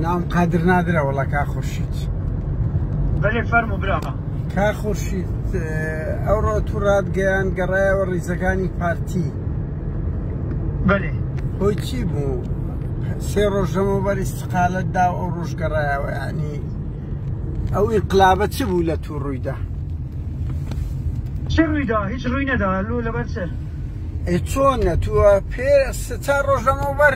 ناوم قادر نادرە وەڵا کا خورشید بەێ فەرمو برا کا خورشید ئەوڕۆ تو ڕادگەیان گەڕایەوە ڕیزەکانی پارتی بەێ هۆی چی بوو سێ ڕۆژەمە بەری سقالت دا ئەو ڕۆژ گەڕایەوە ینی ئەو ئینقلابە چ بوو لە تو ڕوویدا چ ڕوویدا هیچ ڕووی نەدا لۆ لەبەر چ چۆن نەتووە پێ ستا ڕۆژەمە بەر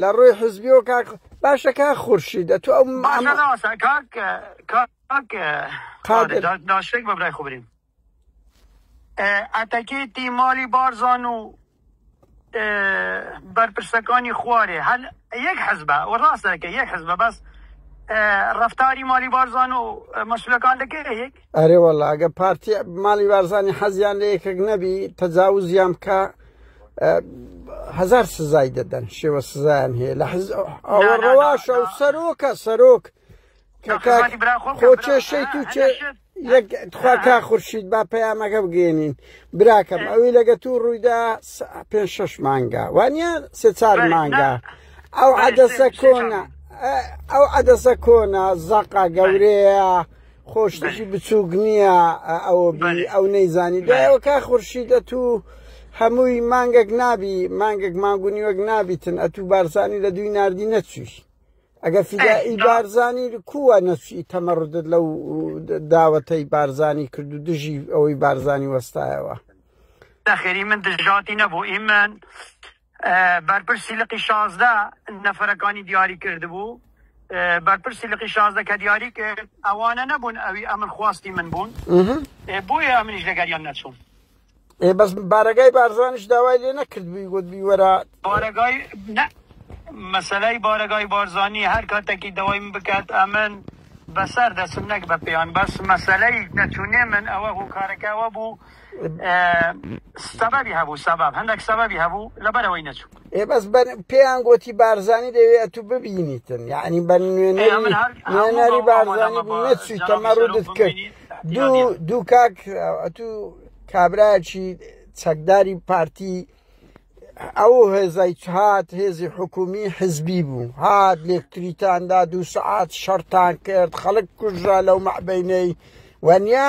لە ڕووی حزبیەوە کاک باشە کا خورشید ئە تو ئەو ناشێک بەبرای خبرین ئەتەکێتی مالی بارزان و بەرپرسەکانی خوارێ هەل یەک حزبە و ڕاستەکە یەک حزبە بەس ڕفتاری مالی بارزان و مەسولەکان دەکەێت ئەرێ وەڵا ئەگە پارتی ماڵی بارزانی حەزیان لە یەکێک نەبی تەجاوزیان بکە هەزار سزای دەدەن شێوە سزایان هەیە لە حز ئەوە ڕەواشە و سەرۆکە سەرۆک خۆ کێشەی تو چێ تخوا کا خورشید با پەیامەکە بگەێنین براکەم ئەوی لەگە تو ڕوویدا پێ شش مانگا وانە سێ چار مانگا ئەو عادەسە کۆنە ئەو عادەسە کۆنە زەقا گەورەیە. خۆ شتێکی بچووک نییە ئەوە بی ئەو نەیزانی دوایەوە کا خورشید ئەتو هەمووی مانگەک نابی مانگەک مانگونی وەک نابیتن ئەتو بارزانی لە دوی نردی نەچووی ئەگە فیدائی بارزانی کووە نەچی تەمەڕدت لەو داوەتەی بارزانی کرد و دژی ئەوەی بارزانی وەستایەوە نەخێری من دژاتی نەبوو ئیمن بەرپرسی لقی شازدە نەفەرەکانی دیاری کردبوو بەرپرسی لقی شازدە کە دیاری کرد ئەوانە نەبوون ئەوی ئەمن خواستی من بوون بۆیە ئەمنیش لەگەریان نەچوون ئێ بەس بارەگای بارزانش داوای لێ نەکرد بووی گوت بیوەرە بارەگای مەسلەی بارەگای بارزانانی هەر کاتێکی داوای من بکات ئەمن بەسەر دەسم نەک بە پێیان بەس مەسلەی نەچوونێ من ئەوە هۆکارەکەەوە بوو سەبەبی هەبوو سەبەب هەندێک سەبەبی هەبوو لەبەرەوەی نەچوو ئێ بەس بەر پێیان گۆتی بارزانی دەوێ ئەتو ببینیتن یعنی بە نوێنەری نوێنەری بارزانی بوو نەچوی تەمە ڕوودت کرد دوو دوو کاک ئەتو کابراچی چەکداری پارتی ئەو هێزای هات هێزی حکومی حزبی بوو هات لێکتریتاندا دوو سعات شەرتان کرد خەڵک کوژرا لەو مەعبینەی وەنیا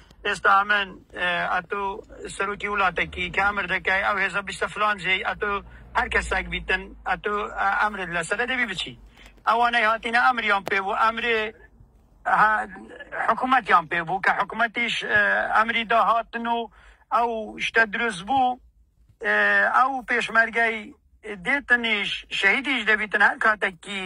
ئێستا ئەمن ئەتو سەروکی ولاتە کی کە ئەمر دەکای ئەو هێزە بچتە فلان جێی ئەتو هەر کەساک بیتن ئەتو ئەمرت لەسەرە دەبی بچی ئەوانەی هاتینە ئەمریان پێ بوو ئەمرێ ها حکومەتیان پێ بوو کە حکومەتیش ئەمری دا هاتن و ئەو شتە دروست بوو ئەو پێشمەرگەی دێتنیش شەهیدیش دەبیتن هەر کاتەکی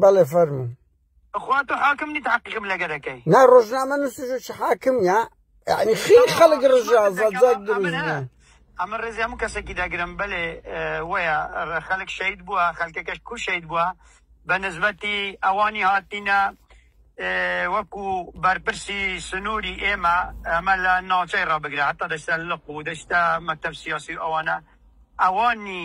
بەڵێ فەرموو. خوا تۆ حاکم نیت حەقیقم لەگەرەکەی نا ڕۆژنامە نووسژ چ حاکم یا یعنی خی خەڵک ڕژا زەزەک دروست ئەمە ڕێزی هەموو کەسێکی داگرم بەلێ وەیە خەلک شەید بووە خەلکەکەش کو شەید بووە بە نزبەتی ئەوانی هاتینە وەکو بەرپرسی سنووری ئێمە ئەمە لە ناوچەی ڕابگرە هەتا دەشتە لق و دەشتە مەکتب سیاسی ئەوانە ئەوانی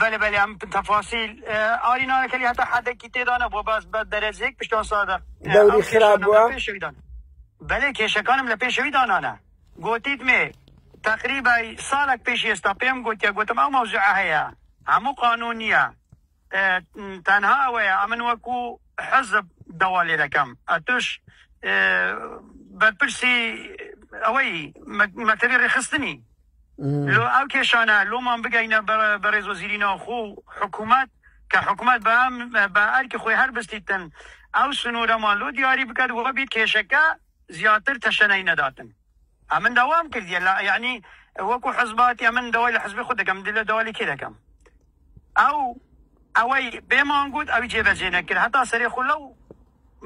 بەلێ بەلێ ئەم تەفاسیل ئاری نانەکەلی هەتا حەدەکی تێدا نەبووە باس بە دەرەجەیەک پشتان سادە دەوری خراپ بووە بەلێ کێشەکانم لە پێشەوی دانانە گوتیت مێ تقریبا ساڵک پێش ئێستا پێم گوتە گوتم ئەو مەوزوع هەیە هەموو قانون نییە تەنها ئەوەیە ئەمن وەکو حەزب دەوا لێ دەکەم ئەتوش بەرپرسی ئەوەی مەکتەبی ڕێخستنی لۆ ئەو کێشانە لۆمان بگەینە بەڕێز وەزیری ناوخۆ و حکومەت کە حکومەت بە ئەم بە ئەرکی خۆی هەر بستیتن ئەو سنوورەمان لۆ دیاری بکات و بیر کێشەکە زیاتر تەشەنەی نەداتن ئەمن داوام کردیە لە یعنی وەکو حزباتی ئەمن داوای لە حزبی خود دەکەم دلە داوالی کێ دەکەم ئەو ئەوەی پێمان گوت ئەوی جێبەجێ نەکرد هەتا سەرێ خو لەو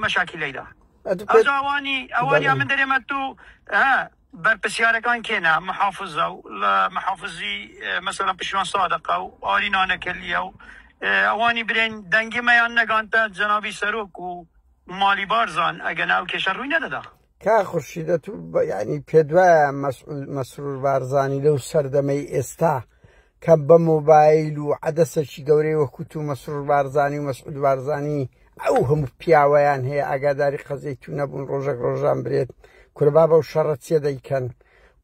مەشاکی لەیدا ئەوانی ئەوانی من دەرێمە تو بەرپرسیارەکان کێنە محافزە و لە محافزی مەسەلەن پشیوان سادقە و ئاری نانەکەلیە و ئەوانی برێن دەنگی مەیان نەگانتە جەنابی سەرۆک و مالی بارزان ئەگەر ناو کێشە ڕووی نەدەدا کا خورشیدە تو بە- یعنی پێدوایە مەسعود مەسرور بارزانی لەو سەردەمەی ئێستا کە بە مۆبایل و عەدەسەکی گەورەی وەکو تو مەسرور بارزانی و مەسعود بارزانی ئەو هەموو پیاوەیان هەیە ئاگاداری قەزیەی تو نەبوون ڕۆژێک ڕۆژان برێت کورە بابە و شەڕە چیە دەیکەن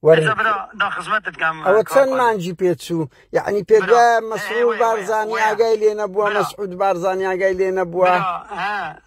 وەر ئێستا برا دا خزمەتت کەم ئەوە کاک چەند قادر مانجی پێچوو یعنی پێت برا وایە اه، مەسرور وەیە وەیە بارزانی وەیە ئاگای لێ نەبووە برا مەسعود بارزانی ئاگای لێ نەبووە برا ها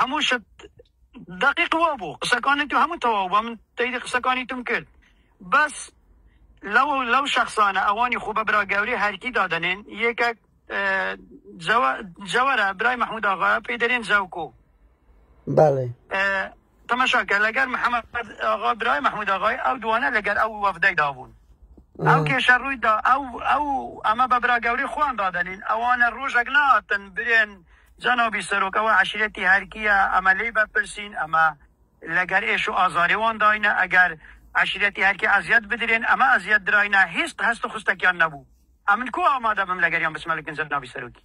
هەموو شت دقیق وا بوو قسەکانی تو هەموو تەواو بوو من تەیری قسەکانی توم کرد بەس لەو لەو شخصانە ئەوانی خۆ بە برا گەورەی هەرکی دادەنێن یەکێک جەوە جەوەرە برای محمود ئاغا پێی دەرێن جەوکۆ بەڵێ تەماشا کە لەگەر محمد ئاغا برای محمود ئاغای ئەو دوانە لەگەر ئەو وەفدەی دابوون ئەو کێشە ڕوویدا ئەو ئەو ئەمە بە برا گەوری خۆیان دادەنین ئەوانە ڕۆژێک ناتن برێن جەنابی سەرۆکەوە عشرەتی هەرکیە ئەمە لی بەپرسین ئەمە لەگەر ئێش و ئازارێوان داینە ئەگەر عشرەتی هەرکی ئەزیەت بدرێن ئەمە ئەزیەت دراینە هیست هەست و خستەکیان نەبوو ئەمن کو ئامادە بم لەگەریان بسمەلکن جەنابی سەرۆکی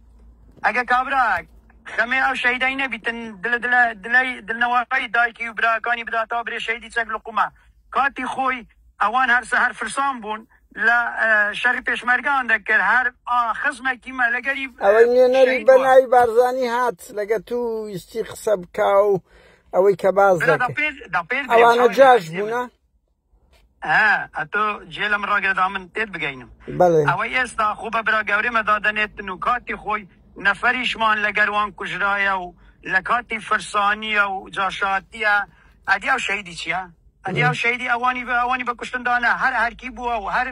ئەگە کابرا خەمێ ئەو شەیدای نەبیتن دلە دلە دلەی دلنەوەی دایکی و براکانی بدا تا برێ شەیدی چەک لقومە کاتی خۆی ئەوان هەر سەهەر فرسان بوون لە شەڕی پێشمەرگان دەکرد هەر ئا خزمەکی مە لەگەری ئەوەی نوێنەری بەناوی بارزانی هات لەگە تو ویستی قسە بکا و ئەوەی کە باز دەکرد ئەوانە جاش بوونە ئا ئەتۆ جێ لەم ڕاگەدا من پێت بگەینم بەڵێ ئەوەی ئێستا خۆ بە برا گەورەمە دادەنێتن و کاتی خۆی نەفەریشمان لەگەروان کوژرایە و لە کاتی فرسانیە و جاشاتیە ئەدی ئەو شەیدی چیە؟ ئەدی ئەو شەیدی ئەوانی بە ئەوانی بە کوشتندانە هەر هەرکی بووە و هەر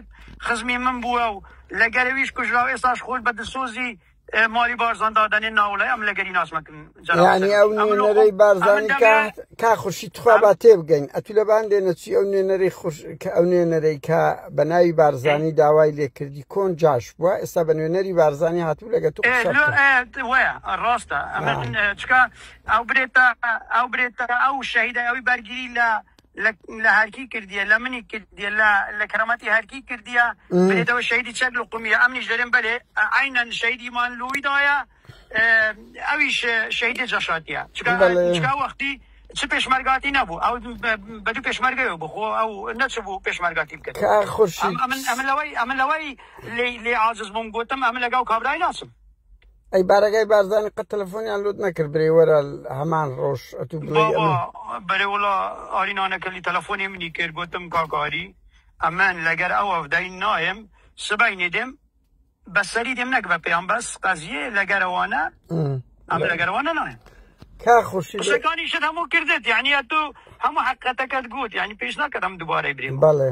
خزمی من بووە و لەگەرویش کوژرا و ئێستاش خۆی بە دلسۆزی مالی بارزان دادەنێ ناوڵێ ئەم لەگەری ناسمەکن یعنی ئەو نوێنەرەی بارزانی کا خوشی تخوا با تێ بگەین ئەتو لەبان لێنە چی ئەو نوێنەری خوش کە ئەو نوێنەرەی کە بە ناوی بارزانی داوای لێکردی کۆن جاش بووە ئێستا بە نوێنەری بارزانی هاتوو لەگە تو ڕاستە ئەو برێتە ئەو برێتە ئەو شەهیدە ئەوی بەرگری لە لە لە هەرکی کردیە لە منی کردیە لە لە کەرامەتی هەرکی کردیە بێتەوە شەیدی چەک لە قومیە ئەمنیش دەرێن بەلێ عینەن شەیدیمان لوی دایە ئەویش شەیدی جەشاتیە چکا وەختی چ پێشمەرگاتی نەبوو ئەو بە دوو پێشمەرگەوە بخۆ ئەو نەچبوو پێشمەرگاتی بکە خۆشی ئەمن لەوەی ئەمن لەوەی لێ عاجز بووم گوتم ئەمن لەگەڵ کابرای ناسم ئەی بارەگای بارزانی قەت تەلەفۆنیان لوت نەکرد برێ وەرە هەمان ڕۆژ ئەتو بڵێ بەێ وڵا ئاری نانەکەلی تەلەفۆنی منی کرد گوتم کاکاری ئەمن لەگەر ئەو ئەفدای نایم سبای نێدێم بەسەری دێم نەک بە پێیان بەس قەزیە لەگەرەوانە ئەم لەگەرەوانە نایم کا خوشی شەکانی شت هەموو کردێت یعنی تو هەموو حقەتەکەت گوت یعنی پێش ناکەم دوبارەی برێ بەڵێ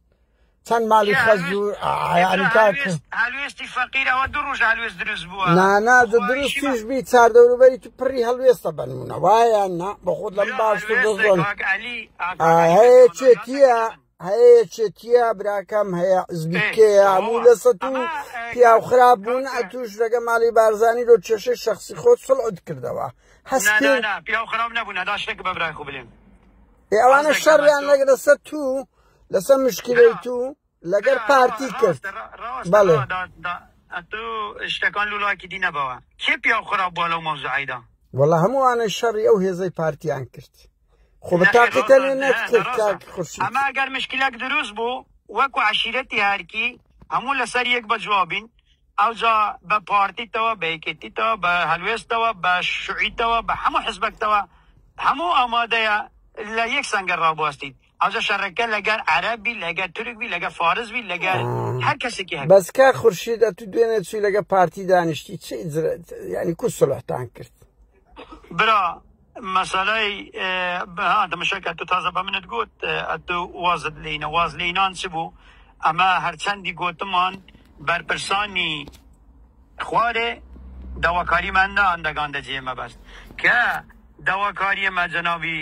چەند ماڵی خەز و عیانی کاک هەلوێستی فەقیر ئەوە دوو ڕۆژ هەلوێست دروست بووە نانا دە دروستیش بی چار دەوروبەری تو پڕی هەلوێستە بنمونە وایە نا بە خۆت لەم باش دەزۆن هەیە چێتیە هەیە چێتیە براکەم هەیە زبیکەیە هەموو لە سە و پیاو خراپ بوون ئەتوش لەگە ماڵی بارزانانی لۆ کێشەی شخصی خۆت سڵعد کردەوە هەست پیاو خراپ نەبوون ئەدا شتێک بە برای خو بلێن ئەوانە شەڕیان لەگرە سە تو لەسەر مشکلەی تو لەگەر پارتی کرد بەڵێ ئەتو شتەکان لولاکی دی نەبەوە کێ پیا خراپ بووە لەو مەوزعیدا وەڵا هەمووانە شەڕی ئەو هێزەی پارتیان کرد خۆ بە تاقیتە لێ نەکرد کاک خورشید ئەمە ئەگەر مشکلەک دروست بوو وەکو عشیرەتی هەرکی هەموو لەسەر یەک بە جوابین ئەوجا بە پارتیتەوە بە یەکێتیتەوە بە هەلوێستەوە بە شوعیتەوە بە هەموو حزبەکتەوە هەموو ئامادەیە لە یەک سەنگەر ڕابواستیت ئەوجا شەڕەکە لەگەر عەرەب بی لەگەر تورک بی لەگەر فارس بی لەگەر هەر کەسێکی هەبی بەس کاک خورشید ئەتو دوێنێ چوی لەگە پارتی دانیشتی چی جرت یعنی کو سلحتان کرد برا مەسەلەی دەمەشەکە تو تازە بە منت گوت ئەتو وازت لینە واز لینان چ بوو ئەمە هەرچەندی گوتمان بەرپرسانی خوارێ داواکاری من نان دەگاندە جێ مەبەست کە داواکاری مە جەنابی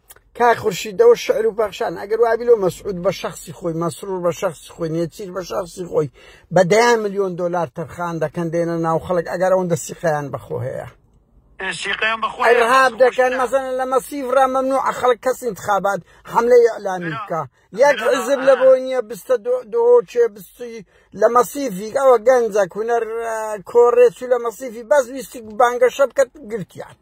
کاک خورشید دەوە شعر و پەخشان ئەگەر وابی لۆ مەسعود بە شخصی خۆی مەسرور بە شخصی خۆی نێچیر بە شخصی خۆی بە دەیان ملیۆن دلار تەرخان دەکەن دێنە ناو خەڵک ئەگەر ئەوەندە سیقیان بەخۆ هەیە رهاب دەکەن مەزن لە مەسیف ڕە مەمنوع خەڵک کەس انتخابات حملەی ئەلامی بکە یەک حزب لە بۆ نییە بستە دۆچێ بستی لە مەسیفیک ئەوە گەنجە کوونەر کۆڕێچوو لە مەسیفی بەس ویستی بانگەشە بکەت گرتیان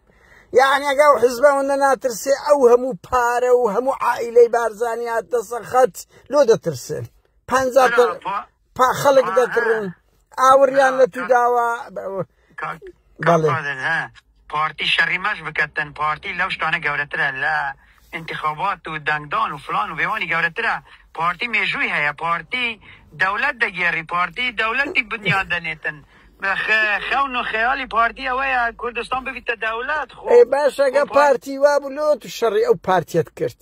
یعنی ئەگە و حزبەوە نەناترسێ ئەو هەموو پارە و هەموو عائلەی بارزانانی هاتە سەر خەت لۆ دەترسێن پ پا خەڵک دەکڕن ئاوریان لە تو داوە بەڵێ پارتی شەڕی مەش بکەتن پارتی لەو شتانە گەورەترە لە انتخابات و دەنگدان و فلان و بێوانی گەورەترە پارتی مێژووی هەیە پارتی دەولەت دەگێری پارتی دەولەتی بنیاد دەنێتن خەون و خەیالی پارتی ئەوەیە کوردستان ببیتە دەولەت خۆ باشەگە پارتی وابوو لۆ تو شەڕی ئەو پارتیت کرد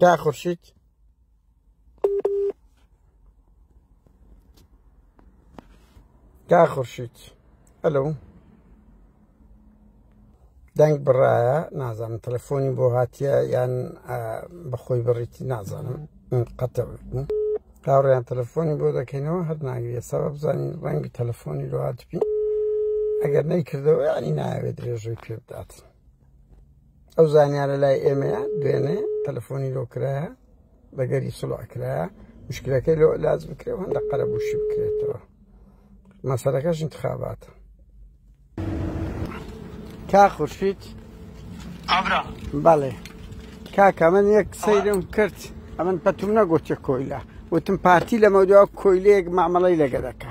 کا خورشید کا خورشید ئەلو دەنگ بڕایە نازانم تەلەفۆنی بۆ هاتیە یان بەخۆی بڕیتی نازانم قەتە هاوڕیان تەلەفۆنی بۆ دەکەینەوە هەر ناگرێت سەبە بزانین ڕەنگی تەلەفۆنی لۆهاتبی ئەگەر نەیکردەوە ینی ناوێت درێژەی پێ بدات ئەو زانیارە لای ئێمەیە دوێنێ تەلەفۆنی لۆ کرایە بەگەری سڵع کرایە مشکلەکەی لۆ لاز بکرێ هەندە قەرەبووشی بکرێتەوە مەسەرەکەش انتخاباتە کا خورشید ئابرا بەڵێ کاکە من یەک سەیرم کرد ئەمن پەتوم نەگۆچە کۆیلە وتم پارتی لەمە دوا کۆیلەیەک مامەڵی لەگەدەکە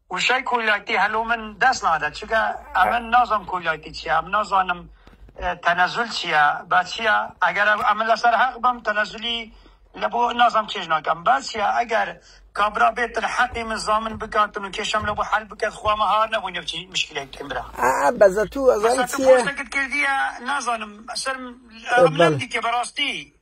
وشەی کۆیلایتی هەلۆ من دەست نادەت چونکە ئەمن نازانم کۆیلایتی چیە ئەم نازانم تەنەزول چیە با چیە ئەگەر ئەمن لەسەر هەق بم تەنەزولی لە بۆ نازانم چێژ ناکەم با چیە ئەگەر کابرا بێتن حەقی من زامن بکاتن و کێشەم لە بۆ حەل بکەت خوا مە هار نەبوو نە بچی مشکلەی بکەین برا ئا بەزە تو ئەزانی چیە بەزە تو پۆستەکت کردیە نازانم سەرم ئەم نەم دیتیە بەڕاستی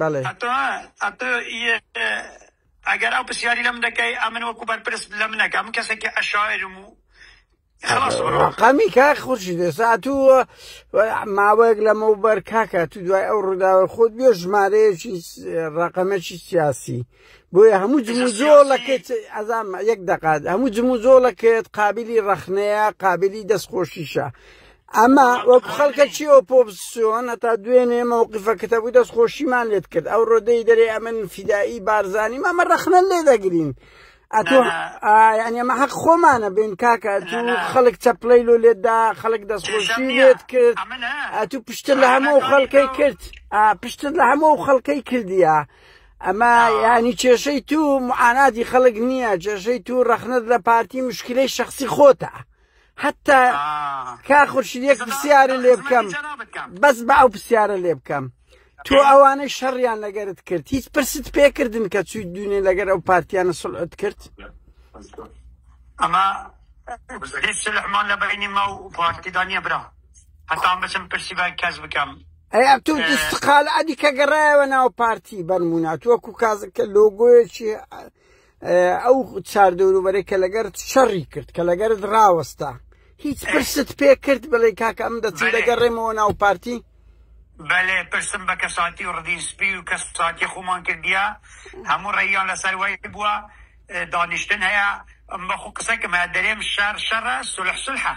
بەڵێ. ئەتۆ ئەتۆ یە ئەگەر ئەو پرسیاری لەم دەکەی ئەمن وەکو بەرپرس لە منەکە من کەسێکی عشاعرم و خلاص بڕۆ ڕقمی کاک خورشید ئێستا تو ماوەیەک لەمەوبەر کاکە تو دوای ئەو ڕووداوە خۆت بێ ژمارەیەکی ڕقەمەکی سیاسی بۆیە هەموو جموجۆڵەکەت ئەزام یەک دەقات هەموو جموجۆڵەکەت قابلی ڕەخنەیە قابلی دەستخۆشیشە ئەمە وەکو خەڵکە چی ئۆپۆزسیۆن هەتا دوێنێ مەوقفەکەتە بوو دەست خۆشیمان لێت کرد ئەو ڕۆدەی دەرێ ئەمن فیدایی بارزانانی مامە ڕەخنە لێ دەگرین ئەتۆ ینی ئەمە حەق خۆمانە بین کاکە تو خەڵک چەپلەی لۆ لێتدا خەڵک دەستخۆشی لێت کرد ئەتو پشتر لە هەموو خەڵکەی کرد پشتر لە هەموو خەڵکەی کردیە. ئەمە یانی کێشەی تو معاناتی خەڵک نییە کێشەی تو ڕەخنت لە پارتی مشکلەی شخصی خۆتە حتا کا خورشید یەک پرسیارە لێ بکەم بەس بە ئەو پرسیارە لێ بکەم تۆ ئەوانەی شەڕیان لەگەرت کرد هیچ پرست پێکردن کە چوی دوێنێ لەگەر ئەو پارتیانە سڵعت کرد ئەمە هیچ سلحمان لە بینی ما و پارتیدانە برا هەتام بچم پرسی بە کەس بکەم ئەی ئەتو اه. استقال ئەدی کە گەڕایەوە ناو پارتی بەرمونا توەکو کازکە لۆگۆیەکی ئەو اه، چار دەوروبەرەی کە لەگەر شەڕی کرد کە لەگەرت ڕاوەستا هیچ اه. پرست پێ کرد بڵێ کاکە ئەم دەچی دەگەڕێمەوە ناو پارتی بەێ پرسم بە کەساتی و ڕدین سپی و کەساتی خۆمان کردە هەموو ڕێیان لەسەر وای بووە دانیشتن هەیە بەخۆ قسەکەم دەرێم شار شەڕە سلح سلحە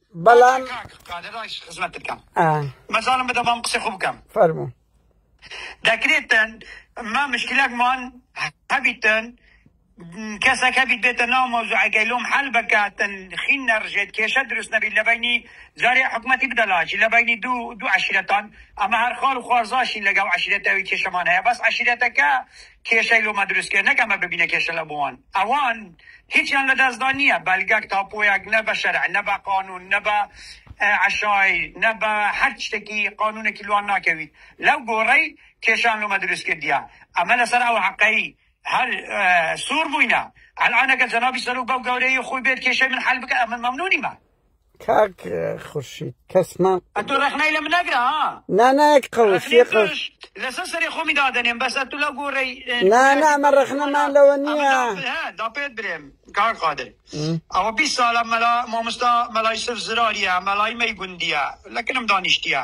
بەڵام مەزانم بدە بەم قسە خۆ بکەم فەرمو دەکرێتن ما مشکلەکمان هەبیتن کەسەک هەبیت بێتە ناو مۆزوعەکەی لۆم حل بکاتن خین نەڕژێت کێشە دروست نەبیت لە بینی جارێ حکوومەتی بدەلاچی لە بینی دوو دوو عشرەتان ئەمە هەرخال و خوارزاشین لەگەڵ عشرەتەوەی کێشەمان هەیە بەس عشرەتەکە کێشەی لۆمە دروست کێ نەک ئەمە ببینە کێشە لە بۆوان ئەوان هیچیان لە دەستدا نییە بەلگەک تاپۆیەک نە بە شەرع نە بە قانون نە بە عشای نە بە هەر شتێکی قانونێکی لوان ناکەویت لەو گۆڕەی کێشان لۆمە دروست کردیە ئەمە لەسەر ئەو حقەی هەر سوور بووینە ئەلانەکە جەنابی سەرۆک بەو گەورەی خۆی بێت کێشەی من حل بکە ئەمە مەمنونی من کاک خورشید کەسمان ئەتو ڕخنەی لە منەگرە ها نانایەک قەوشی قەوش لەسەر سەری خۆمی دادەنێم بەس ئەتو لە گۆڕی نانا ئەمە ڕخنەمان لەوە نییە دا پێت برێم کار قادر ئەوە بی ساڵە مەلا مامۆستا مەلای سف زراریە مەلای مەی گوندیە لەکنم دانیشتیە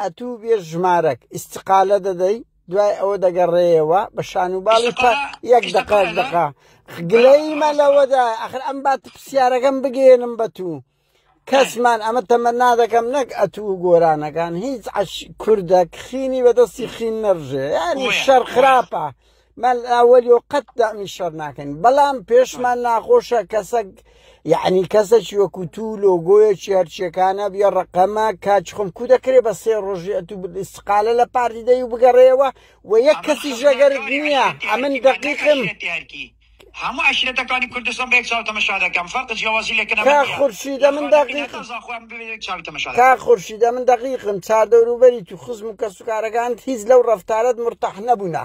ئەتوو بێ ژمارەک ئیستقالە دەدەی دوای ئەوە دەگەڕێیەوە بە شانوباڵی پا یەک دقە دقە گلەیمە لەوەدا ئەخر ئەم بات پرسیارەکەم بگێنم بە تو کەسمان ئەمە تەمە نادەکەم نەک ئەتوو گۆرانەکان هیچ کوردە خینی بەدەستی خین نەڕژێ ینی شەر خراپە من ئەوەلی و قەت دامی شەر ناکەین بەڵام پێشمان ناخۆشە کەسەک یعنی کەسەکی وەکو تو لۆگۆیەکی هەرچیەکانە بیا ڕقەمە کاچخم کو دەکرێت بە سێ ڕۆژی ئەتو استقالە لە پارتی دەی و بگەڕێەوە و یەک کەسی ژەگەرت نییە ئەمن دەقیقم هەموو عەشیرەتەکانی کوردستان بە یەک چاو تەمەشا دەکەم فەرق جیاوازی لە کەنەبەر کاک نیە خورشیدە من لەخانەی دەقیقم نەتەوە زاخۆ هەموو بە یەک چاوی تەمەشا دەکەم. کاک خورشیدە من دەقیقم چار دەوروبەریت و خزم و کەسوکارەکانت هیچ لەو ڕەفتارەت مورتاح نەبوونە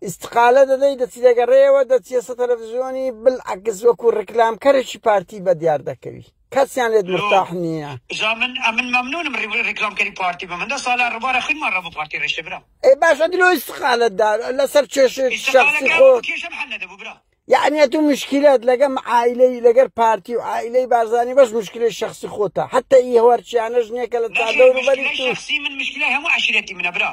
ئیستقالە دەدەی دەچی دەگەڕێیەوە دەچیەسە تەلەفزیۆنی بلعکس وەکو ڕیکلامکەرێکی پارتی بەدیار دەکەوی. کەسیان لێت مرتاح نیە. جا من ئەمن مەمنونم ریکلام کەری پارتی بە من دە سالە ربارە خوینمان رەبو پارتی رشتە برام. ئەی باشە دلۆ ئیستقالەت دا لەسەر کێشە شەخسی خۆ کێشم حل نەدەبو برا. یەعنی ئەتو مشکلەت لەگەم عایلەی لەگەر پارتی و عایلەی بارزانی بەس مشکلەی شەخسی خۆتە حەتە ئی هەوارچیانەش نیە کە لە چاردەوروبەری تو. شەخسی من مشکلەی هەمو عەشیرەتی منە برا.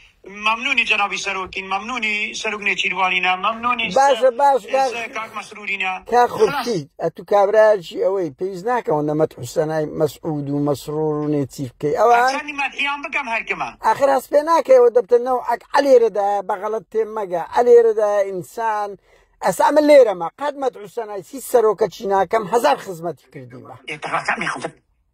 مەمنونی جەنابی سەرۆکین مەمنونی سەرک نێچیروانینە مەمنونی باشە باش کاک مەسرورینە کا خورشید ئەتو کابراجی ئەوەی پێویست ناکەەوە نەمەت حوسەنای مەسعود و مەسرور و نێچیر بکەی ئەوە مەدیان بکەم هەرکەمە ئاخر هەست پێ ناکەەوە دەبتنەوە ئەک ئەلێرەدا بەغەڵت تێ مەگە ئەلێرەدا ئینسان ئەسا من لێرەمە قەت مەت حوسەنای سی سەرۆکە چیناکەم هزار خزمەتی کردیمە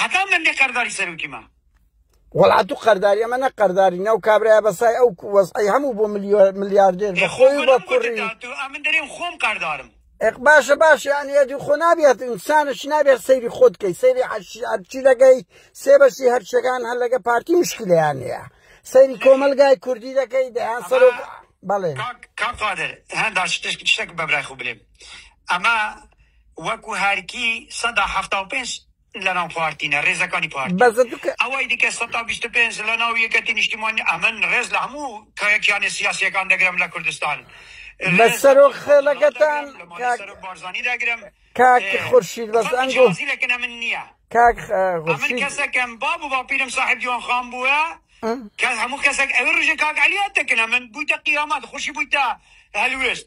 هەتا من لە کارداری سەرۆکی ما وەڵا تو قەرداری ئەمە نە قەرداری ناو کابراە بەسای ئەو وەزعی هەموو بۆ ملیاردێر بەخۆی بە کوڕی من دەرێم خۆم قەردارم باشە باش یانەتی خۆ نابێت ئینسانش نابێت سەیری خۆت کەی سەیری هەرچی لەگەی سێ بەشی هەرچەکان هەر لەگە پارتی مشکلیان هەیە سەیری کۆمەلگای کوردی دەکەی دەیان سەر بەڵێ کاقادر هەندا شتێک بەبرای خو بلێم ئەمە وەکو هەرکی سەدا حەفتا و پێنج لەناو پارتینە رێزەکانی پارتی ئەوەی دیکە سەدا بیست و پێنج لەناو یەکەتی نیشتیمانی ئەمن رێز لە هەموو کیانی سیاسیەکان دەگرم لە کوردستان لە سەرۆک خێڵەکەتان بارزانی دەگرم کاک خورشید بەس ئەنگۆ لەکنە من نییە کاک خورشید کەسەکەم باب و باپیرم صاحب جوان خان بووە کە هەموو کەسێک ئەوێ ڕژێ کاک علیات دەکنە من بوویتە قیامات خوشی بوویتە هەلوێست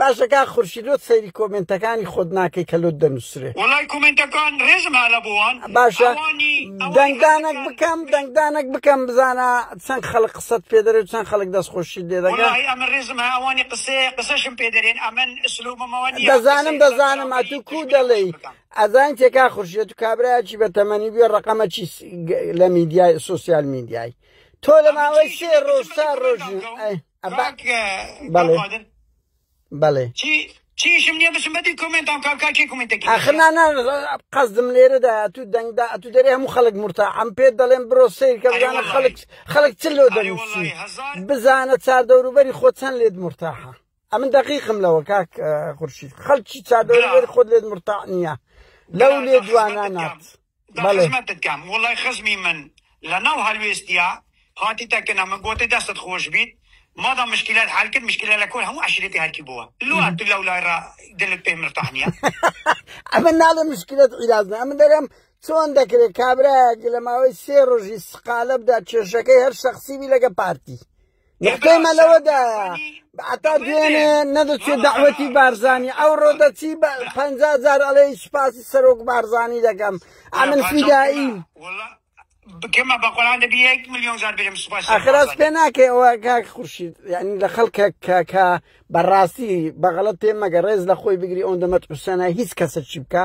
باشە کا خورشی لۆت سەیری کۆمنتەکانی خۆت ناکەی کە لۆت دەنووسێت وڵای کۆمنتەکان ڕێزم هەلە بووان باشە دەنگدانێک بکەم دەنگدانێک بکەم بزانە چەند خەڵک قسەت پێدەێ و چەند خەڵک دەستخۆشی لێ دەگە ئەمە ڕێزم ئەوانی قسێ قسەشم پێدەێن ئەمن سلوبمەوە دەزانم دەزانم ئەتو کو دەڵێی ئەزان تێکا خورشێت و کابراایکی بە تەمەنی بێ ڕقەمە چی لە میدیای سوسیال میدیای تۆ لە ماوەی سێ ڕۆژ تا ڕۆژ بەڵێ چیشم نیە بچم بەدی کمنتان کام کاکێ کمنتەکە ئەخنانە قەزدم لێرەدا ئەتو دەنگدا ئەتو دەرێ هەموو خەڵک مرتا ئەم پێ دەڵێن برۆ سیرکەزانە خەڵک خەڵک چ لۆ دەنووسی بزانە چار دەوروبەری خۆ چەند لێت مرتاحە ئەمن دقیقم لەوە کاک خورشید خەڵکی چار دەوروبەری خۆت لێت مرتا نییە لەو لێ دوانانات دا خزمەتت کەم وڵای خزمی من لەناو هەلوێستیا هاتیتە کنە من گۆتی دەستت خۆش بیت مادام مشکلەت حەل کرد مشکلە لە کۆی هەموو عەشیرەتی هەرکی بووە لۆ ئەتو لەو لای را دلت پێ مرتاح نییە ئەمە ناڵێ مشکلەت عیلاج نە ئەمە دەرێم چۆن دەکرێت کابراەک لە ماوەی سێ ڕۆژی سقالە بدا کێشەکەی هەر شخصیبی لەگە پارتی نقطەمە لەوەدایە ئەتا دوێنێ نەدەچێ داوەتی بارزانانی ئەو ڕۆدەچی بە پ جار ئەڵێ سوپاسی سەرۆک بارزانانی دەکەم ئەمن فیدایی بکەمە بە قۆران دەبی یەک میلیۆن جار بێم سوپاس ئەخراس پێ ناکەی ئەوە کاک خورشید یعنی لە خەڵکە کاکە بەڕاستی بەغڵەت پێ مەگە ڕێز لە خۆی بگری ئەوەندە مەترسەنە هیچ کەسە چی بکە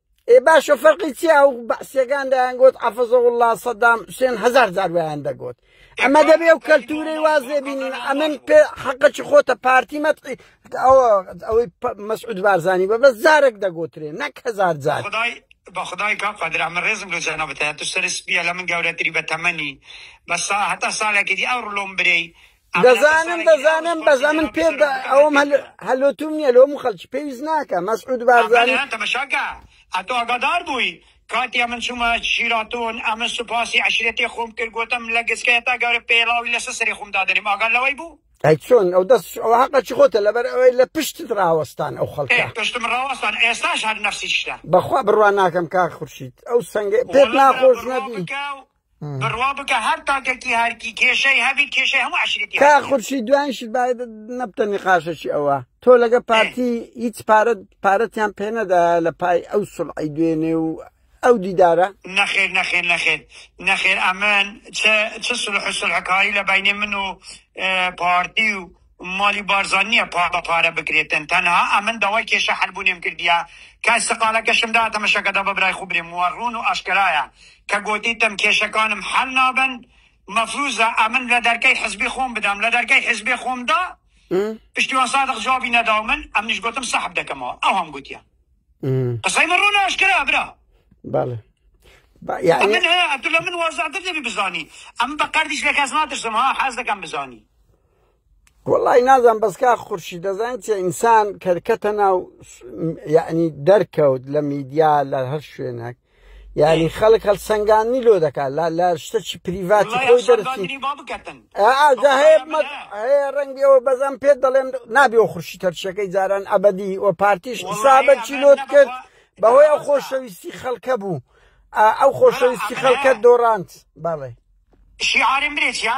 ئێ باشە فەرقی چیا و بەعسیەکان دەیانگوت عەفەزەوڵا سەدام حوسێن هزار جار ویان دەگوت ئەمە دەبێ و کەلتورەی وازێ بینین ئەمن پێ حەقەکی خۆتە پارتی مەتقی ئەوە ئەوەی مەسعود بارزانانی بە بەس جارێک دەگوترێ نەک هزار جار خدای بە خدای کا قادر ئەمە ڕێزم لە جەنابەتە تو سەر سپیە لە من گەورەتری بە تەمەنی بەسا هەتا سالێکی دی ئەو ڕلۆم برێی دەزانم دەزانم بەس ئەمن پێ ئەوم هەلوتوم نییە لۆم خەلکی پێویست ناکە مەسعود بارزانی تەمەشاکە ئەتۆ ئەگادار بووی کاتی ئەمن چوومە شیراتۆن ئەمە سوپاسی عشرەتی خۆم کرد گوتم لە گسکەیە تا گەورە پێڵاوی لەسە سەری خۆم دادەنیم ئاگار لەوەی بوو ئەی چۆن ئەو دەست ئەو حەقەکی خۆتە لەبەر ئەوەی لە پشتت ڕاوەستان ئەو خەڵکە پشتم ڕاوەستان ئێستاش هەر نەفسی شتە بەخوا بڕوان ناکەم کا خورشید ئەو سنگە پێت ناخۆش نەبی بڕوا بکە هەر تاکەکی هەرکی کێشەی هەبی کێشەی هەموو عشرێتی کا خورشی دوایشت باید نەبتە نقاشەکی ئەوە تۆ لەگە پارتی هیچ پارەت پارەتیان پێنەدا لە پای ئەو سڵعی دوێنێ و ئەو دیدارە نەخێر نەخێر نەخێر نەخێر ئەمن چ سلح سلحکاری لە بینێ من و پارتی و مالی بارزان نیە پا بە پارە بکرێتن تەنها ئەمن داوای کێشە حەل بونێم کردیە کای سەقالەکەشم دا تەمەشەکەدا بە برای خو برێم وە رون و ئاشکەرایە کە گۆتیتم کێشەکانم حەل نابن مەفروزە ئەمن لە دەرکەی حزبی خۆم بدەم لە دەرکەی حزبی خۆم دا پشتیوان سادق جوابی نەداو من ئەمنیش گۆتم سەحب دەکەمەوە ئەو هەم گوتیە قسەی من رون ئاشکەرا برا بەڵێ يعني من عبد الله من وازع دبي بزاني اما بقرديش لك ازمات السماء حاز لك بزاني وەڵی نازان بەسکا خورشی دەزان چێ ئینسان کەرکەتە ناو یعنی دەرکەوت لە میدیا لە هەر شوێنەک یعنی خەڵک هەڵ سنگانی لۆ دەکات لە لە شتەکی پریڤاتی خۆی دەرسی ڕەنگی ئەوە بەزان پێت دەڵێم نابێ و خورشی تەرشەکەی جاران ئەبدی و پارتیش حسابەکی لۆت کرد بەهۆی ئەو خۆشەویستی خەڵکە بوو ئەو خۆشەویستی خەڵکە دۆڕانت بەڵێ شیعارم برێت یا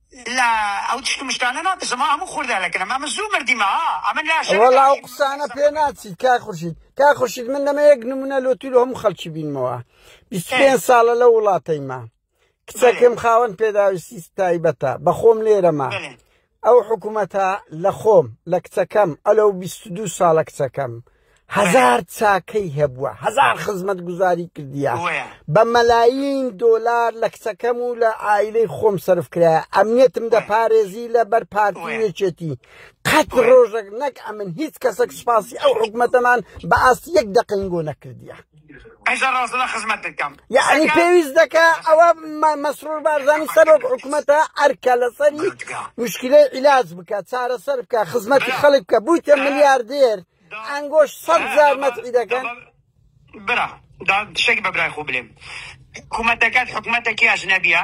لا ئەو تشت مشتانە ناپرسە ما هەموو خوردە لە گەرم ئەمە زوو مردیمە ها ئەمە لاشە وەڵا ئەو قسانە پێ ناچیت کا خورشید کا خورشید من دەمە یەک نمونە لۆ تیر هەموو خەڵکی بینمەوە بیست پێنج ساڵە لە وڵاتەیمە کچەکەم خاوەن پێداویستی تایبەتە بە خۆم لێرەما ئەو حکوومەتە لە خۆم لە کچەکەم ئەلە و بیست و دوو ساڵە کچەکەم هەزار چاکەی هەبووە هەزار خزمەت گوزاری کردیە بە مەلایین دۆلار لە کچەکەم و لە ئایلەی خۆم سرف کرایە ئەمنیەتم دەپارێزی لە بەر پارتیەکێتی قەت ڕۆژێک نەک ئەمن هیچ کەسێک سوپاسی ئەو حکوومەتەمان بە ئاست یەک دەقنگۆ نەکردیە هەشتا ڕاستەدا خزمەت دەکەم یعنی پێویست دەکە ئەوە مەسرور بارزانی سەرۆک حکوومەتە ئەرکە لەسەری مشکلەی عیلاج بکە چارەسەر بکە خزمەتی خەڵک بکە بوویتە ملیاردێر ئەنگۆش سەد زار مەتعی دەکەن برا شتێک بە برای خۆ بلێم حکوومەتەکەت حکوومەتێکی ئەژنەبیە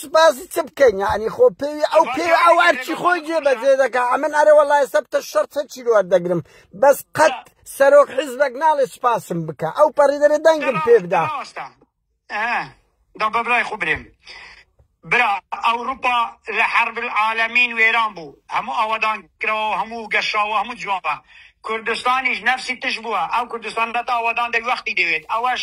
سوپاسی چ بکەین یعنی خۆ پێوی ئەو پێ ئەو ئەرچی خۆی جێ بەجێ دەکا ئەمن ئەرێ وەڵای سەبتە شەرت هەچی لۆر دەگرم بەس قەت سەرۆک حیزبەک ناڵێ سوپاسم بکە ئەو پەڕی دەرێ دەنگم پێ بدا دا بەبرای خۆ برێم برا ئەوروپا لە حرب العالمین وێران بوو هەموو ئاوادان کرەوە هەموو گەشاوە هەموو جوانە کوردستانیش نەفسی تش بووە ئەو کوردستان بەت ئاوادان دەوی وەختی دەوێت ئەوەش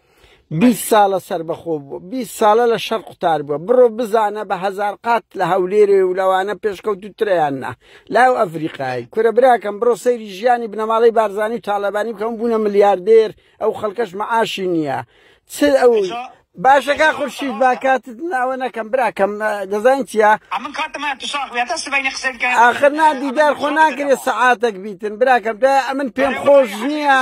بیست ساڵە سەربەخۆ بووە بیست ساڵە لە شەر قوتار بووە بڕۆ بزانە بە هەزار قات لە هەولێرێ و لەوانە پێشکەوت و تریان نا لاو ئەفریقای کورە براکەم بڕۆ سەیری ژیانی بنەماڵەی بارزانانی و تاالبانی بکەم بوونە ملیاردێر ئەو خەڵکەش معاشی نییە چ ئەو باشەکە خورشید با کاتت ناوە نەکەم براکەم دەزانین چیە ئاخر نادیدار خۆ ناکرێت سەعاتەک بیتن براکەم دا ئەمن پێم خۆش نییە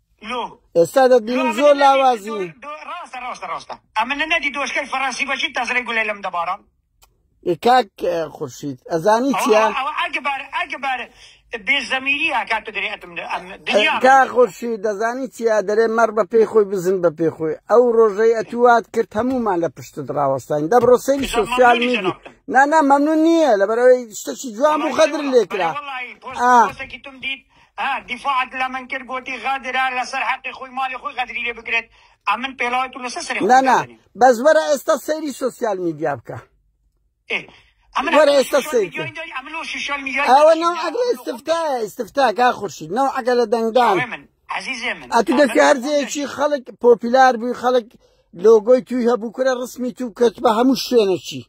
لۆ ئێستا دەبینم زۆر لاوازی ڕاستە ڕاستە ڕاستە ئەمنە نەدی دۆشکەی فەڕەنسی بەچی تەزرەی گولەی لەم دەبارە کاک خورشید ئەزانی چیا ئەگەبار ئەگەبار بێزەمیری ئاکات و دەرێتم کا خۆشی دەزانی چیا دەرێ مەڕ بە پێی خۆی بزن بە پێ خۆی ئەو ڕۆژەی ئەتوات کرد هەمومان لە پشت ڕاوەستین دەبڕۆ سەری سوسیال میدی نانا مەمنون نییە لەبەرەوەی شتەکی جوان و خەدر لێکرا. ها دیفاعت لەمن کرد گۆتی غەدرە لەسەر حەقی خۆی مالی خۆی غەدری لێ بکرێت ئەمن پێڵاوی تو لەسەر سەری خۆی نانا بەس وەرە ئێستا سەیری سوسیال میدیا بکە وەرە ئێستا سەیری ئەوە ناو ئەگرە ئستفتایە ئستفتا کا خورشید ناو ئەگە لە دەنگدان ئەتو دەکە هەرزەیەکی خەڵک پۆپیلار بووی خەڵک لۆگۆی توی هەبوو کورە ڕسمی تو کەت بە هەموو شوێنەکی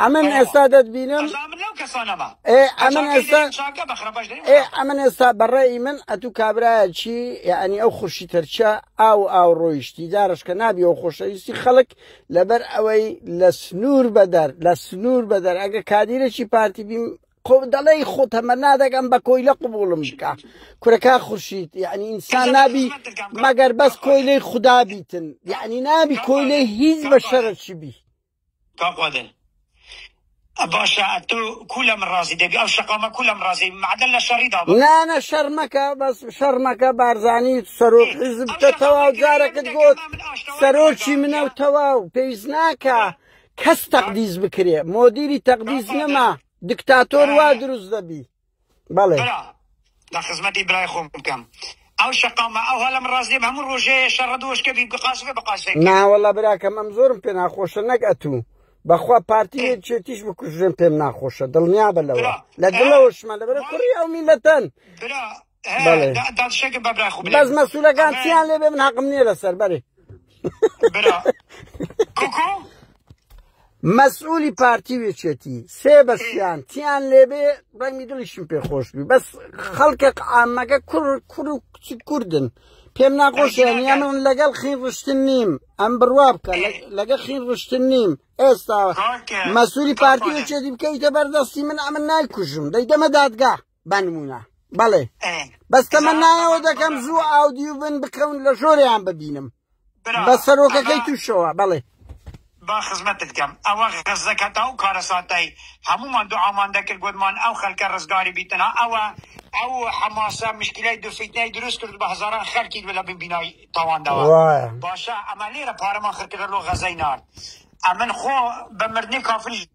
ئەمن ئێستا دەتبینم ئەمن ئێستا ئەمن ئێستا بەڕێی من ئەتو کابراایەکی یعنی ئەو خوشی تەرچە ئاو ئاو ڕۆیشتی دارشکە نابی و خۆشەویستی خەڵک لەبەر ئەوەی لە سنوور بەدەر لە سنوور بەدەر ئەگە کادیرێکی پارتی بیم قۆ دەڵی خۆ تەمە نادەگەم بە کۆی لە قوبوڵم بکە کورەکە خوشیت یعنی ئینسان نابی مەگەر بەس کۆی لی خوددا بیتن یعنی نابی کۆی لی هیچ بە شەرەکی بی کاک قادر باشە ئەتو کو لە من ڕازی دەبی ئەو شەقامە کو لە من ڕازی معدل لە شەڕی دا نانە شەڕ مەکە بەس شەڕ مەکە بارزانی سەرۆک حیزب کە تەواو جارەکت گوت سەرۆکی منە و تەواو پێویست ناکە کەس تەقدیس بکرێ مۆدیری تەقدیس نەما دکتاتۆر وا دروست دەبی بەڵێ برا لە خزمەتی برای خۆم بکەم ئەو شەقامە ئەو هەلم ڕاست نیم هەموو ڕۆژەیە شەڕە دۆشکە بی بقاسفێ بقاسفێ ناوەڵا براکەم ئەم زۆرم پێ ناخۆشە نەک ئەتوو بەخوا پارتی چێتیش بکوژێن پێم ناخۆشە دڵنیا بە لەوە لە دڵەوەشمە لەبەر کوڕی ئەو میلەتەن بەڵێ دادشێکە بە برای خوب بەس مەسوولەکان چیان لێ بێ من حەقم نییە لەسەر بەرێ کوکو مەسئولی پارتی وێچێتی سێ بەشیان تیان لێبێ ڕەنگی دڵیشم پێ خۆش بی بەس خەڵکە ئامەگە کوڕ کوڕ و کچی کوردن پێم ناخۆشیان یامن لەگەڵ خین ڕشتن نیم ئەم بڕوا بکە لەگە خین ڕشتن نیم ئێستا مەسووری پارتی وێچێتی بکەیتە بەردەستی من ئەمن نایکوژم دەی دەمە دادگا بانموونە بەڵێ بەس تەمەنایەوە دەکەم زوو ئاودیو بن بکەون لە ژۆریان ببینم بە سەرۆکەکەی تووشەوە بەڵێ با خزمەتت کەم ئەوە غەزەکە تا و کارەساتای هەمومان دوعامان دەکرد گوتمان ئەو خەلکە ڕزگاری بیتنا ئەوە ئەو حەماسە مشکلای دو فیتنای دروست کرد بە هەزاران خەلکی لە بن بینای تاواندەوە باشە ئەمە لێرە پارەمان خرکرە لۆ غەزەی نارد ئەمن خۆ بە مردنی کافری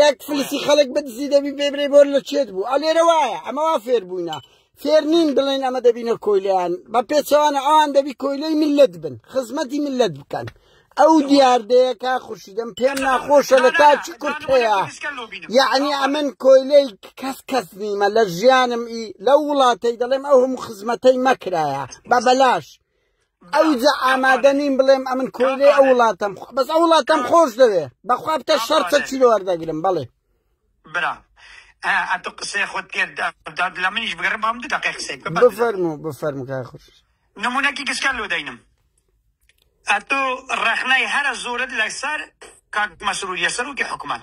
یەک فلیسی خەڵک بدزی دەبی پێ برێ بۆر لە چێت بوو ئەلێرە وایە ئەمەوا فێر بووینە فێر نین بڵێن ئەمە دەبینە کۆیلیان بە پێچەوانە ئەوان دەبی کۆیلەی ملت بن خزمەتی ملت بکەن ئەو دیاردەیە کا خوشیدەم پێم ناخۆشە لە تاچی کورت هەیە یعنی ئەمن کۆیلەی کەس کەس نیمە لە ژیانم ئی لەو وڵاتەی دەڵێم ئەو هەموو خزمەتەی مەکرایە بە بەلاش ئەوجا ئامادە نیم بڵێم ئەمن کۆیلێ ئەو وڵاتم بەس ئەو وڵاتم خۆش دەوێ بەخوا بتە شەرتە چی وەردەگرم بڵێ برا ئەتو قسەی خۆت پێداد لە منیش بگەڕم بام دو دقی قسەی بفەرم و بفەرم کار خۆش نمونەکی گشتکان لۆ دەینم ئەتو ڕەخنای هەرە زۆرت لەسەر کاک مەسروریە سەرۆکی حکومان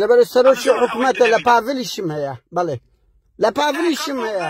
لەبەر سەرۆکی حکوومەتە لە پاڤلیشم هەیە بڵێ لە پاڤلیشم هەیە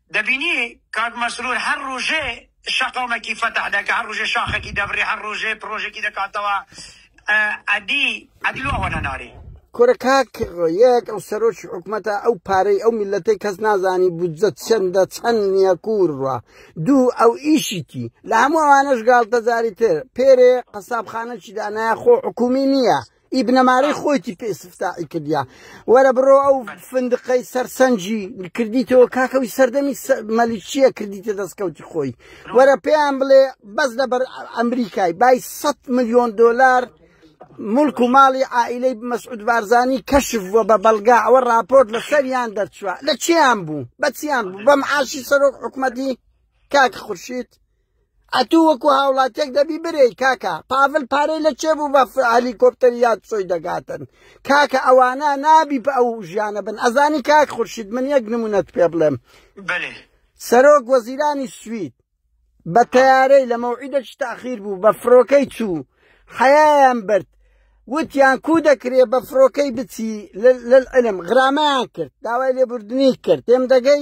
دەبینی کاک مەسرور هەر ڕوژێ شەقامەکی فەتح دەکا هەر ڕوژێ شاخەکی دەبڕی هەر ڕوژێ پڕۆژەکی دەکاتەوە ئەدی ئەدی لۆ ئەوەنە ناری. کورە کاک یەک ئەو سەرۆکی حکومەتە ئەو پارەی ئەو میلەتەی کەس نازانی بودجە چەندە چەند نییە کوورڕە دوو ئەو ئیشیتی لە هەموو ئەوانەش گاڵتەجاری تر پێرێ قەسابخانەکی دانایە خۆ حکومی نییە ئی بنەمارەی خۆیتی پێ سفتاعی کردیا وەرە بڕۆ ئەو فندقەی سەرسەنجی کردیتەوە کاکەوی سەردەمی مەلیکیە کردیتە دەستکەوتی خۆی وەرە پێیان بڵێ بەس لەبەر ئەمریکای بای 100 میلیۆن دلار ملک و ماڵی عائلەی مەسعود بارزانی کەشف بووە بە بەڵگا ئەوە راپۆرت لە سەریان دەرچوە لە چیان بوو بەچیان بوو بەم عاشی سەرۆک حکومەتی کاک خورشید ئەتوو وەکو هاوڵاتیەک دەبی برێی کاکە پاڤل پارەی لە چێ بوو بە هەلیکۆپتەری یاد سۆی دەگاتن کاکە ئەوانە نابی بە ئەو ژیانە بن ئەزانی کاک خورشید من یەک نمونەت پێ بڵێم سەرۆک وەزیرانی سوید بە تەیارەی لە مەوعیدەکی تاخیر بوو بە فڕۆکەی چوو حەیان برد وتیان کو دەکرێ بە فڕۆکەی بچی لەعلم غرامەیان کرد داوای لێبوردنی کرد تێم دەگەی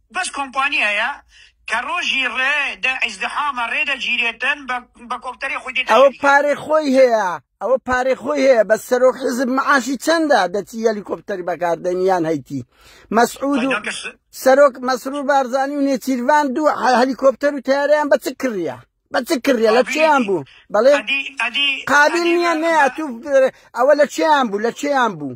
بەس کۆمپانی هەیە کە ڕۆژی ڕێ دە ئیزدحامە ڕێ دەگیرێتن بە بە کۆپتەرێ خۆی دێتە ئەوە ژووری. پارەی خۆی هەیە ئەوە پارەی خۆی هەیە بەس سەرۆک حیزب معاشی چەندە دەچی هەلیکۆپتەری بەکار دێنی یان هەیتی مەسعود و دەکەس سەرۆک مەسرور بارزانی و نێچیرڤان دوو هە- هەلیکۆپتەر و تەیارەیان بە چ کڕیە بە چ کڕیە لە چیان بوو بەڵێ ئەدی ئەدی قابل ئەدی نییە مە- نەیە مە- تو ئەوە لە چیان بوو لە چیان بوو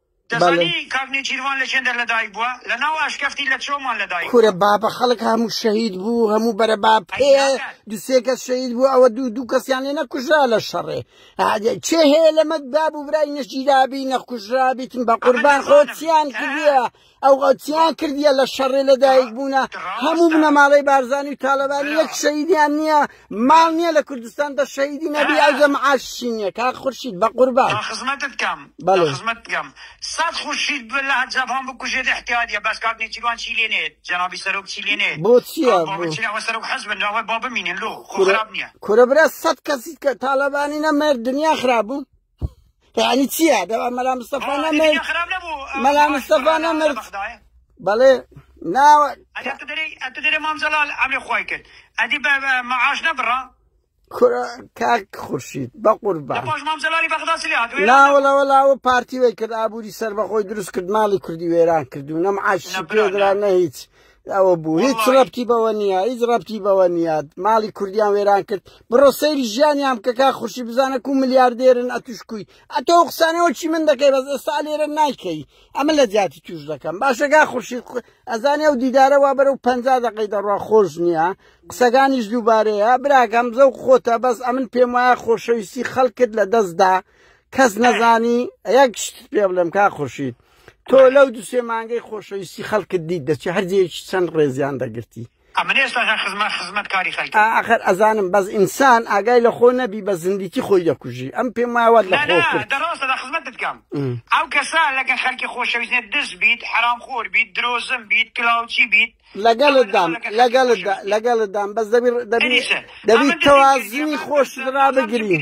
دەزانی کاک نێچیرڤان لە چێندەر لە دایک بووە؟ لە ناو ئاشکەفتی لە چۆمان لە دایک بووە. کورە بابە خەڵک هەموو شەهید بوو هەموو بەرە با پێ ئەی ناکات. دو سێ کەس شەهید بوو ئەوە دوو دوو کەسیان لێ نەکوژرا لە شەڕێ ئادێ چێ هەیە لەمە باب و برای نەشگیرابی نەخوژرابیتن بە قوربان خۆ چیان کردیە ئەو غەڵتیان کردیە لە شەڕێ لە دایک بوونە هەموو بنەماڵەی بارزانی و تاالبانی یەک شەیدیان نییە ماڵ نییە لە کوردستان بە شەیدی نەبی ئەو جە معاشی نییە کا خورشید بە قوربان خزمەتت بکەم بەڵێ خزمەت بکەم سەد خورشید لە جەبان بکوژێت احتیادیە بەس کاک نێچیروان چی لێ نێت جەنابی سەرۆک چی لێ نێت بۆ چییە بۆ سەرۆک حەز بن لەوە با بمینن لۆ خۆ خراپ نییە کورە برا سەد کەسی کە تاالبانی نەمێر دنیا خراپ بوو یعنی چییە دەوا مەلا مستەفا نەمرد مەلا مستەفا نەمرد بەڵێ ناوە دەرێ مامزەڵال ئەمێ خۆی کرد ئەدی بە مەعاش نەبڕە کورە کاک خورشید بە قوربان ناوەڵە وەڵاوە پارتی وی کرد ئابووری سەربەخۆی دروست کرد ماڵی کوردی وێران کردو نەم عاشی پێدرا نە هیچ ئەوە بوو هیچ ڕەبتی بەوە نییە هیچ ڕەبتی بەوە نییە ماڵی کوردیان وێران کرد بڕۆ سەیری ژیانیان بکەکە خوشی بزانە و ملیاردێرن ئەتوشکوی ئەتۆ قسانەوە چی من دەکەی بەس ئێستا لێرە نایکەی ئەمە لە جیاتی توش دەکەم باشەگا خوشی ئەزانێ و دیدارە وا بەرە و پ دەقەی دەڕوا خۆش نییە قسەکانیش دووبارەیە براکەم زەو خۆتە بەس ئەمن پێم وایە خۆشەویستی خەڵکت لە دەستدا کەس نەزانی یەک شت پێ بڵێم کا خوشیت تۆ لەو دو سێ مانگەی خۆشەویستی خەڵکت دیت دەچێ هەرجەیەکی چەند ڕێزیان دەگرتی ئاخر ئەزانم بەس ئینسان ئاگای لە خۆ نەبی بە زندیکی خۆی دەکوژی ئەم پێم وایوات لە خۆکردکەم ئەو کەسا لەگە خەلکی خۆشەویستێت دز بیت حرام خۆر بیت درۆزم بیت کلااوچی بیت لەگەلدام لەگەل لەگەلدام بەس دەبی دەبی تەوازنی خۆش را بگرین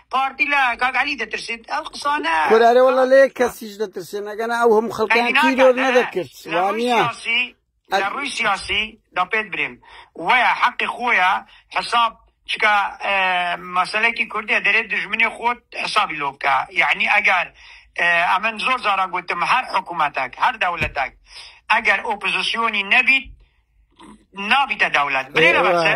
پارتی لە کاک علی دەترسێت ئەو قسانە کورارێ وەڵە لە یەک کەسیش دەترسێن ئەگەنا ئەو هەموو خەڵکیان تیرۆر نەدەکرد وانە لە ڕووی سیاسی دا پێت برێم وەیە حەقی خۆیە حساب چکە مەسلەکی کوردە دەرێت دژمنی خۆت حسابی لۆ بکە یعنی ئەگەر ئەمن زۆر زارا گوتم هەر حکوومەتەک هەر دەولەتەک ئەگەر ئۆپزیسیۆنی نەبیت نابیتە دەولەت برێ لە بەسە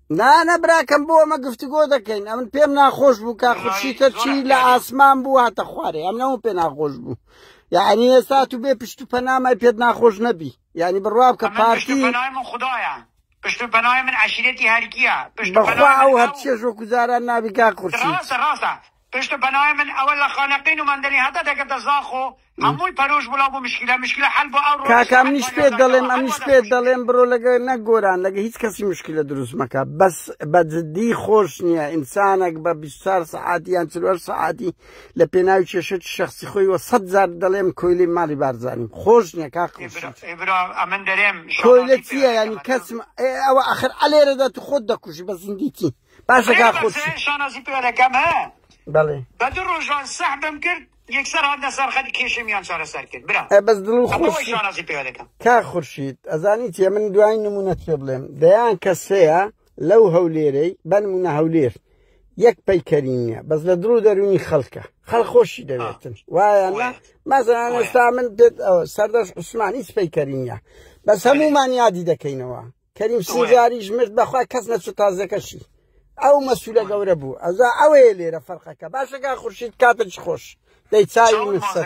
نانە براکەم بۆ ئەمە گفتوگۆ دەکەین ئەمن پێم ناخۆش بوو کا خورشی تەرچی لە ئاسمان بوو هاتە خوارێ ئەم نەوە پێ ناخۆش بوو یعنی ئێستا تو بێ پشت و پەنامای پێت ناخۆش نەبی ینی بڕواب کە پارتی خدایە پشت و پەنای من عشیرەتی هەرکیە پشت بەخوا ئەو هەرچێژ وەکو جاران نابی کا خورشی پشت پەناێ من ئەوە لە خانەقین و مەندەلی هەتا دەکەتە زاخۆ هەمووی پەرۆش بوو لەو بۆ مشکیلە مشکیلە حەل بۆ ئەو کاکە ئەمنیش پێت دەڵێم ئەمنیش پێت دەڵێم برۆ لەگە نەگۆران لەگە هیچ کەسی مشکلە دروست مەکە بەس بە جددی خۆش نییە ئینسانێک بە 24 سعاتی یان چ سعاتی لە پێناوی کێشێت شخصی خۆی وە سەد زار دەڵێم کۆیلی ماڵی بارزانیم خۆش نییە کا ئەمن دەرێم کۆیلە چیە ینی کەسم ئەوە ئەخر ئەلێرەدا تو خۆت دەکوژی بە زیندیتی باشە کاک خورشید شانازی پێ دەکەم ها بەڵێ بە دوو ڕۆژان سەحبم کرد یەکسەر هاتنە سەر خەت کێشەمیان چارەسەر کرد برا بەس دڵ و خۆشی شانازی پێ دەکەم کا خورشید ئەزانی تێ من دوای نمونەت پێ بڵێم دەیان کەس هەیە لەو هەولێرەی بەنمونە هەولێر یەک پەیکەری نییە بەس لە دڵ و دەرونی خەڵکە خەڵ خۆشی دەوێتن وایە مەزان ئێستا من پێت سەردەش عوسمانی سپەیکەری نییە بەس هەمومان یادی دەکەینەوە کەریم سیغاریش مرد بەخوا کەس نەچوو تازەکەشی ئەو مەسوولە گەورە بوو ئەزا ئەوەیە لێرە فەرقەکە باشەکە خورشید کاتە چ خۆش دەی چاوی من سەر